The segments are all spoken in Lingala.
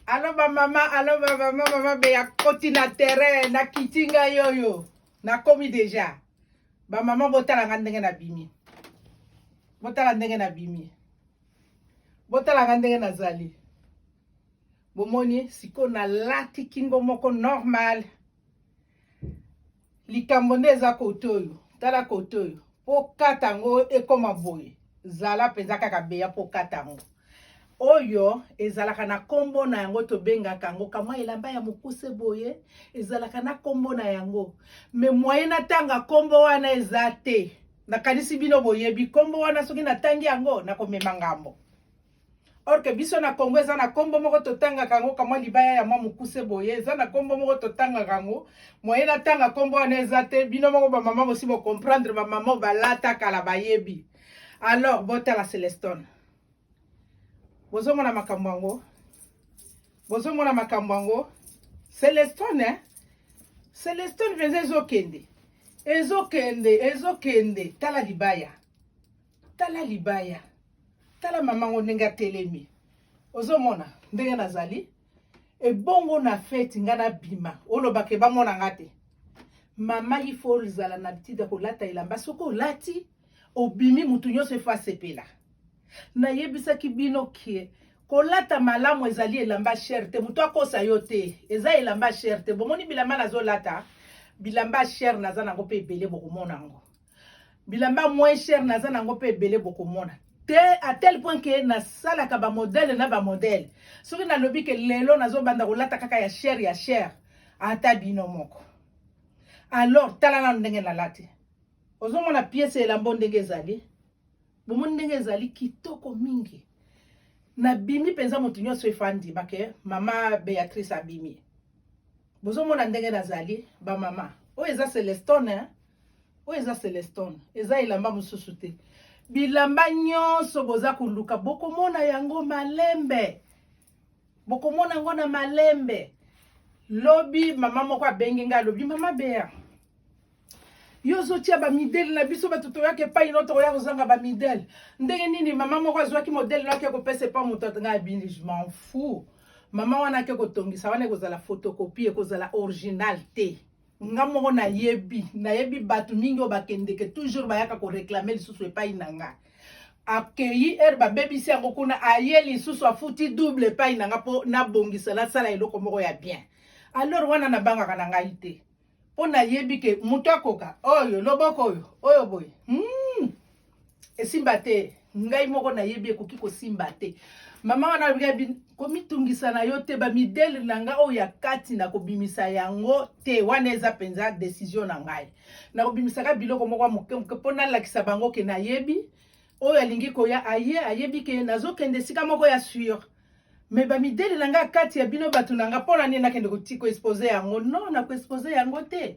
alo bamama alo bamama mama beya koti na terrain nakiti ngai oyo nakomi deja bamama botala nga ndenge nabimi botala ndenge nabimi botala nga ndenge nazali bomoni sikoyo nalati kingo moko normal likambo nde eza kote oyo tala kote oyo mpo kata yango ekoma boye zala mpenza kaka beya mpo kata yango oyo ezalaka na nkombo na yango tobengaka yango kamwa elamba ya mokuse boye ezalaka na nkombo na yango me mwaye natanga nkombo wana eza te nakanisi bino boyebi nkombo wana soki natangi yango nakomema ngambo or que biso na congo eza na nkombo moko totangaka yango kamwa libaya ya mwa mokuse boye eza na nkombo moko totangaka yango moye natanga nkombo wana eza te bino moko bamama bosi bocomprendre bamama oyo balata kala bayebi alors botala celestone bozomona makambo yango bozomona makambo yango celestone eh? celestone mpenza ezokende ezokende ezokende tala libaya tala libaya tala mama ngo ndenge atelemi ozomona ndenge nazali ebongo na feti nga nabima olobake bamona nga te mama ifo ozala na litidi ya kolata elamba soki olati obimi motu nyonso efo asepela nayebisaki bino ke kolata malamu ezali elamba shere te motu akosa yo te eza elamba shere te bomoni bilamba nazolata bilamba shere naza nango mpe ebele bokomona yango bilamba moins cher naza nango mpe ebele bokomona te à tel point que nasalaka bamodele na bamodele soki nalobi ke lelo nazobanda kolata kaka ya cher ya cher ata bino moko alors tala nano ndenge nalati ozomona piese elambo ndenge ezali bomoni ndenge ezali kitoko mingi nabimi mpenza moto nyonso efandi bake mama beatrice abimi bozomona ndenge nazali bamama oyo eza celestone oyo eza celestone eza elamba mosusu te bilamba nyonso boza koluka bokomona yango malembe bokomona yango na malembe lobi mama moko abengi ngai alobi mama bea yo ozotya bamidele na biso bato toyaka epai no tokoya kozanga bamidele ndenge nini mama moko azwaki modele no ake kopesa epai moto atanga abini je m'en fou mama wana ake kotongisa wana ekozala photocopie ekozala original te nga moko nayebi nayebi bato mingi oyo bakendeke toujours bayaka koreklame lisusu epai na nga akeyi ere babebisi yango kuna aye lisusu afuti double epai na nga mpo nabongisa nasala eloko moko ya bien alors wana nabangaka na ngai te mpo nayebi ke moto akoka oyo loboko oyo oyo boye hmm. esimba te ngai moko nayebi ekoki kosimba te mama wana alobi komitungisa na yo te bamidele na ngai oyo ya kati nakobimisa yango te wana eza mpenza desizio na ngai nakobimisaka biloko moko moke moke mpo nalakisa bango ke nayebi oyo alingi koya aye ayebi ke nazokende esika moko ya sur me bamidele na ngai kati ya bino bato na ngai mpo na nini nakende koexpose yango no nakoexpose yango te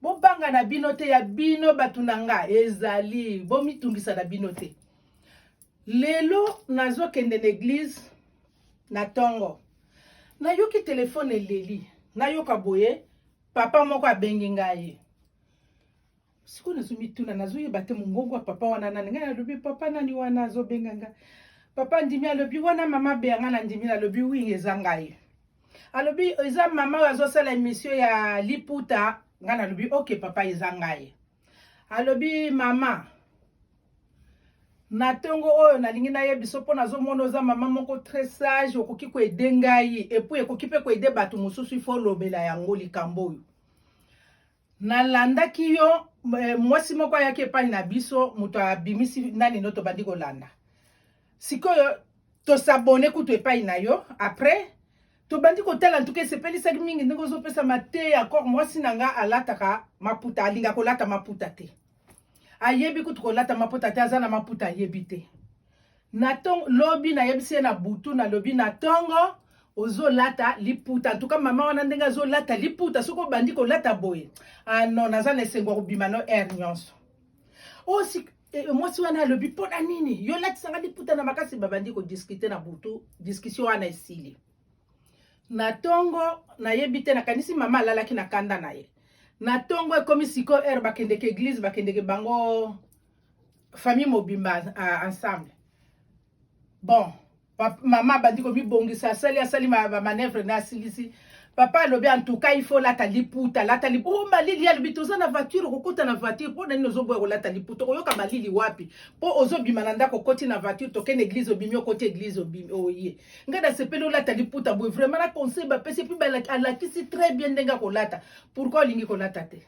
bobanga na bino te ya bino bato na nga ezali bomitungisa na bino te lelo nazokende na eglize na ntongo nayoki telefone eleli nayoka boye papa moko abengi ngai sikoyo nazomituna nazoyeba te mongongo ya papa wana nani ngai nalobi papa nani wana azobenga ngai papa ndimi alobi wana mama beya ngai na ndimi nalobi wi eza ngai alobi eza mama oyo azosala emisio ya liputa ngai nalobi oke papa eza ngai alobi mama na ntongo oyo nalingi nayebiso mpo nazomona oza mama moko très sage okoki koede ngai epuis ekoki mpe koede bato mosusu ifo olobela yango likambo oyo nalandaki yo eh, mwasi moko ayaki epai na biso moto abimisi nani no tobandi kolanda sikoyo tosabone kutu epai na yo après tobandi kotala ntuka esepelisaki mingi ndenge ozopesa mateya kor mwasi na nga alataka maputa alinga kolata maputa te ayebi kutu kolata maputa te aza na maputa ayebi te na tongo lobi nayebisi ye na butu nalobi na tongo ozolata liputa antuka mama wana ndenge azolata liputa soki obandi kolata boye ano ah naza na esengo ya kobima no aire nyonso osi oh, eh, eh, mwasi wana alobi mpo na nini yo olatisanga liputa na makasi babandi kodiskute na butu diskusio wana esili na tongo nayebi te nakanisi mama alalaki na kanda na ye na tongo ekomi sikoyo heure bakendeke eglise bakendeke bango famille mobimba uh, ensemble bon mama abandi komibongisa asali asali bamanevre na asilisi papa alobi antuka ifo olata liputa alata liputa oh, malili alobi toza na voiture okokota na voiture mpo na nini ozoboya kolata liputa okoyoka malili wapi mpo ozobima na ndako okoti na voiture tokende eglise obimi okoti eglise obimi oye oh, ngai nasepeli olata liputa boye vraiment na conseil bapesi epuis alakisi très bien ndenge akolata pourkui olingi kolata te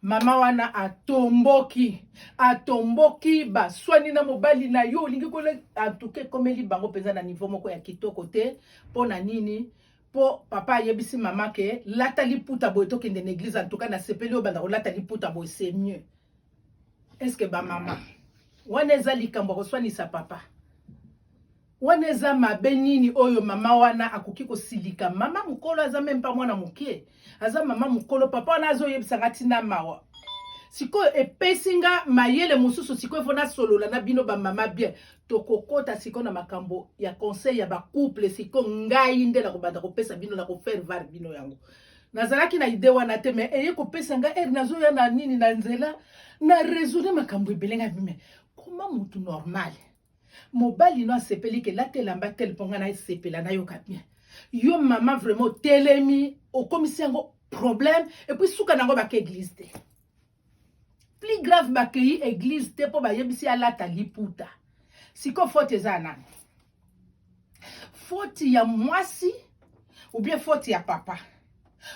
mama wana atomboki atomboki baswani na mobali na yo olingi kola antuka ekomeli bango mpenza na nivo moko ya kitoko te mpo na nini po papa ayebisi mama ke lata liputa boye tokende na eglise antuka nasepeli obanda kolata liputa boye c'est mieux Est-ce que ba mama wana eza likambo koswanisa papa wana eza mabe nini oyo mama wana akoki kosilika mama mokolo aza meme pa mwana moke aza mama mokolo papa wana azoyebisa nga ntina mawa sikoyo epesi nga mayele mosusu sikoyo fo nasolola na bino bamama bien tokokota sikoyo na makambo ya conseil ya bacouple sikoyo ngai nde nakobanda kopesa bino na kofaire var bino yango nazalaki na idee wana te mais eye kopesa nga ere nazoya na nini na nzela na raisonne makambo ebele nga bime koma motu normal mobali no asepeli ke lata elamba tele mpo nga nasepela nayoka bien yo mama vraiment otelemi okomisi yango problème epuis suka na yango baka eglise te plus grave bakeyi eglise te mpo bayebisi alata liputa siko foti eza ya nani foti ya mwasi ubie foti ya papa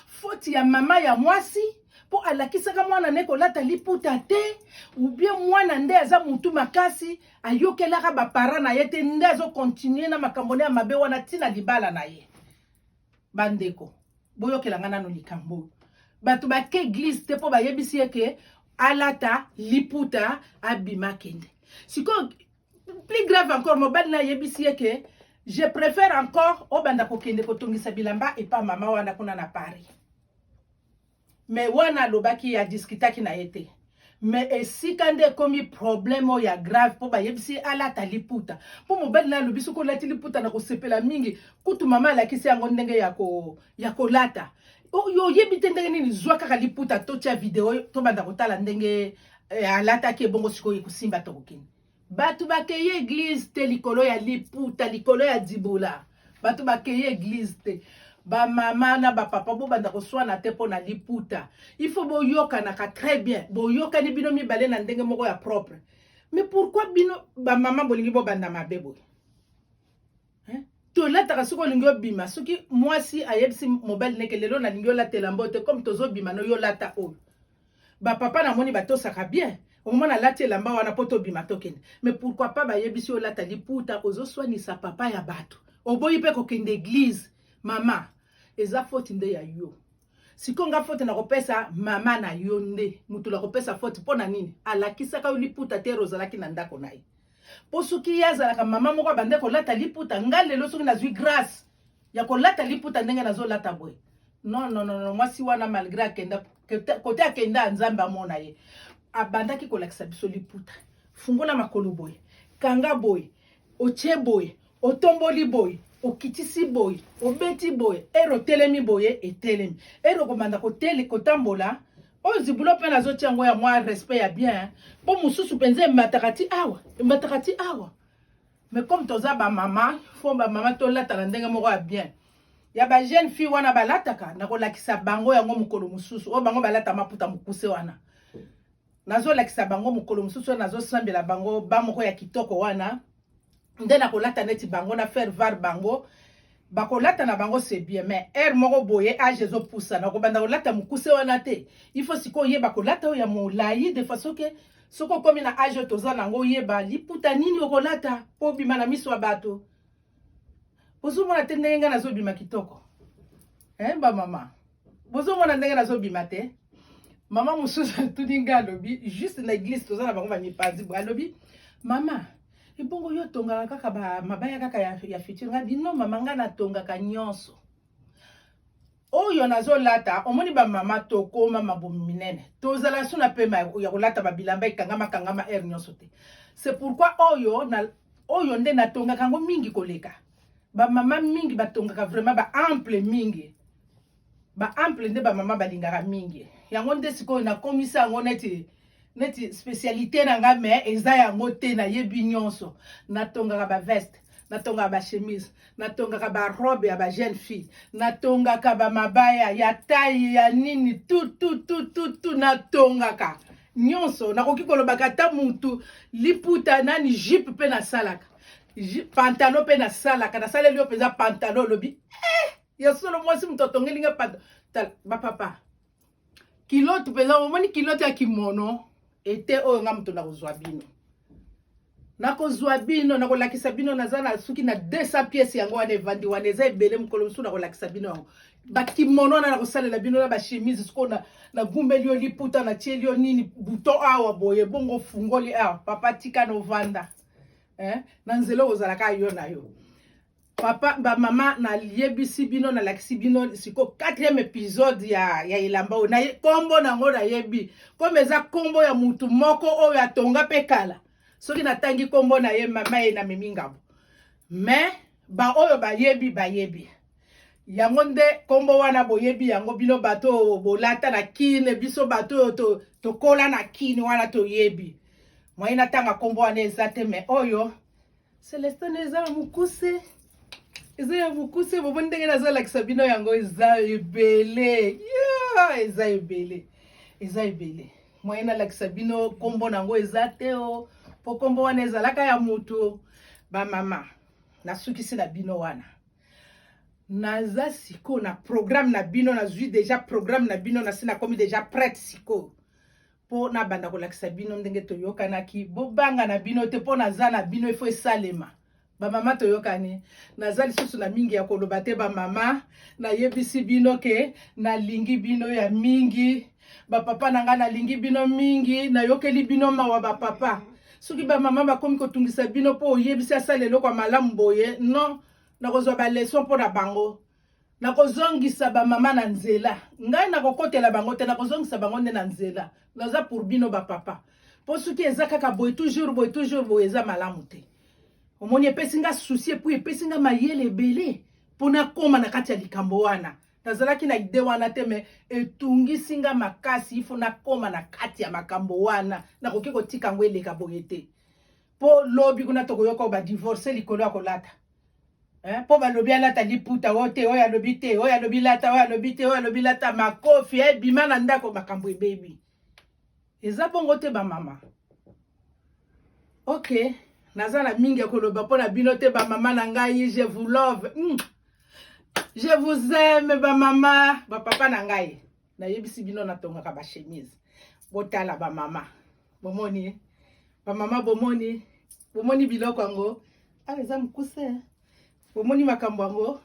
foti ya mama ya mwasi mpo alakisaka mwana ne kolata liputa te ubie mwana nde aza motu makasi ayokelaka bapara na ye te nde azokontinue na makambo ne ya mabe wana ntina libala na ye bandeko boyokela ngai nano likambo oyo bato bake eglize te mpo bayebisi ye ke alata liputa abima kende sikoyo plus grave encore mobali na ayebisi ye ke je préfère encore obanda kokende kotongisa bilamba epa mama wana kuna na paris mais wana alobaki a discutaki na ye te mais esika nde ekomi problème oyo ya grave mpo bayebisi ye alata liputa mpo mobali naye alobi soki olati liputa na kosepela mingi kutu mama alakisi yango ndenge ya, ko, ya kolata oyo oyebi te ndenge nini zwa kaka liputa totya video tobanda kotala ndenge eh, alataki ebongo sikoyo ekosimba tokokende Bato bakeyi eglise te likolo ya liputa, likolo ya dibola. Bato bakeyi eglise te. bamama na bapapa bobanda koswana te mpo na liputa il faut boyokanaka très bien boyokani bino mibale na ndenge moko ya propre mais pourquoi bino bamama bolingi bobanda mabe boye tolataka soki olingi obima soki mwasi ayebisi mobali neke lelo nalingi olatela mbo te comme tozobima no yo lata oyo bapapa namoni batosaka bien omona alati elamba wana mpo tobima tokende mais pourquoi pas bayebisi olata liputa ozoswanisa papa ya bato oboyi mpe kokende eglize mama eza foti nde ya yo sikoyo nga fote nakopesa mama na yo nde motu nakopesa fote mpo na nini alakisaka yo liputa te ozalaki na ndako na ye mpo soki ye azalaka mama moko abande kolata liputa nga lelo soki nazwi grâce ya kolata liputa ndenge nazolata boye non non non mwasi wana malgré akenda kote akenda nzambe amona ye abandaki kolakisa biso liputa fungola makolo boye kanga boye otie boye otomboli boye okitisi boye obeti boye ero otelemi boye etelemi ero okomanda kotele kotambola oyo zibulo mpe nazotia yango ya mwa respect ya bien mpo mosusu mpenza emataka ti awa emataka ti awa mais comme toza bamama fo bamama tolataka ndenge moko ya bien ya bajeune fille wana balataka nakolakisa bango yango mokolo mosusu oyo bango balata maputa mokuse wana nazolakisa bango mokolo mosusu wana nazosambela bango ba moko ya kitoko wana nde nakolata neti bango na faire var bango bakolata na bango c'est bien mais heure moko boye age ezopusana okobanda kolata mokuse wana te il faut sikoyo oyeba kolata oyo ya molai de façon ke soki okomi na age oyo toza nango oyeba liputa nini okolata mpo obima na miso ya bato ozomona te ndenge ngai nazobima kitoko eh, bamama bozomona ndenge nazobima te mama mosusu atuni ngai alobi juste na eglise toza na bango bamipanzi boye alobi mama ebongo yo otongaka kaka mabaya kaka ya, ya future ngai bino mama ngai natongaka nyonso oyo nazolata omoni bamama tokoma mabomi minene tozala su na pema ya kolata babilamba ekangama kangama aire nyonso te c'est pourquoi oyo na, oyo nde natongaka yango mingi koleka ba mama mingi batongaka vraiment ba ample mingi ba ample nde ba mama balingaka mingi yango nde sikoyo nakomisa yango neti neti spécialité na nga mais eza yango te nayebi nyonso natongaka ba veste natongaka ba chemise natongaka ba robe ya ba jeune fille natongaka ba mabaya ya taille ya nini tout tout tout tout tout natongaka nyonso nakoki kolobaka ata mutu liputa nani jupe mpe nasalaka pantalon mpe nasalaka nasaleli yo mpenza pantalon olobi eh, ya solo mwasi moto atongeli nga pantalon bapapa kilote mpenza omoni kilote ya kimono ete oyo nga moto nakozwa bino nakozwa bino nakolakisa bino naza na soki na 200 pièce yango wana evandi wana eza ebele mokolo mosusu nakolakisa bino yango bakimono wana nakosalela bino na bachemise sikoyo nagumbeli yo liputa natieli yo nini bouton awa boye bongo ofungoli awa papa tika novanda eh, na nzela oyo ozalaka yo na yo papa bamama nayebisi bino nalakisi bino siko quatrième épisode ya, ya elamba oyo na nkombo na yango nayebi kome eza nkombo ya motu moko oyo atonga mpe kala soki natangi nkombo na ye mama ye namemi ngambo mais baoyo bayebi bayebi yango nde nkombo wana boyebi yango bino bato oyo bolata na kine biso bato oyo to, tokola na kine wana toyebi moye natanga nkombo wana eza te me oyo celestin eza ya mokuse eza ya mokuse bobo ndenge nazolakisa bino yango eza ebele yeah, eza ebele eza ebele moye nalakisa bino nkombo na yango eza te o oh. mpo nkombo wana ezalaka ya moto bamama nasukisi na bino wana naza siko na programme na bino nazwi deja programme na bino nasi nakomi deja prête siko mpo nabanda kolakisa bino ndenge toyokanaki bobanga na bino te mpo naza na bino ifo esalema bamama toyokani naza lisusu na mingi ya koloba te bamama nayebisi bino ke nalingi bino ya mingi Ba papa na ngai nalingi bino mingi, nayokeli bino mawa ba papa. Soki ba mama bakomi kotungisa bino mpo oyebisi asala eloko ya malamu boye, non, nakozwa ba leson mpo na bango. Nakozongisa ba mama na nzela. Ngai nakokotela bango te, nakozongisa bango nde na nzela. Naza pour bino ba papa. Mpo soki eza kaka boye toujours boye toujours boye eza malamu te. Omoni epesi nga souci epuis epesi nga mayele ebele mpo nakoma na kati ya likambo wana. nazalaki na ide wana te me etungisi nga makasi ifo nakoma na kati ya makambo wana nakoki kotika yango eleka boye te mpo lobi kuna tokoyoka badivorce likolo ya kolata eh, mpo balobi alata liputa o te oyo alobi te oyo alobi lata oyo alobi te oyo alobi lata makofi ebima eh, na ndako makambo ebebi eza bongo te ba mama ok naza na mingi ya koloba mpo na bino te ba mama na ngai je vous love mm. je vous aime ba mama ba papa na ngai nayebisi bino natongaka ba chemise botala ba mama bomoni ba mama bomoni bomoni biloko yango awa ah, eza mokuse bomoni makambo yango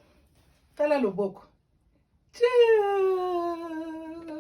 tala loboko Tchou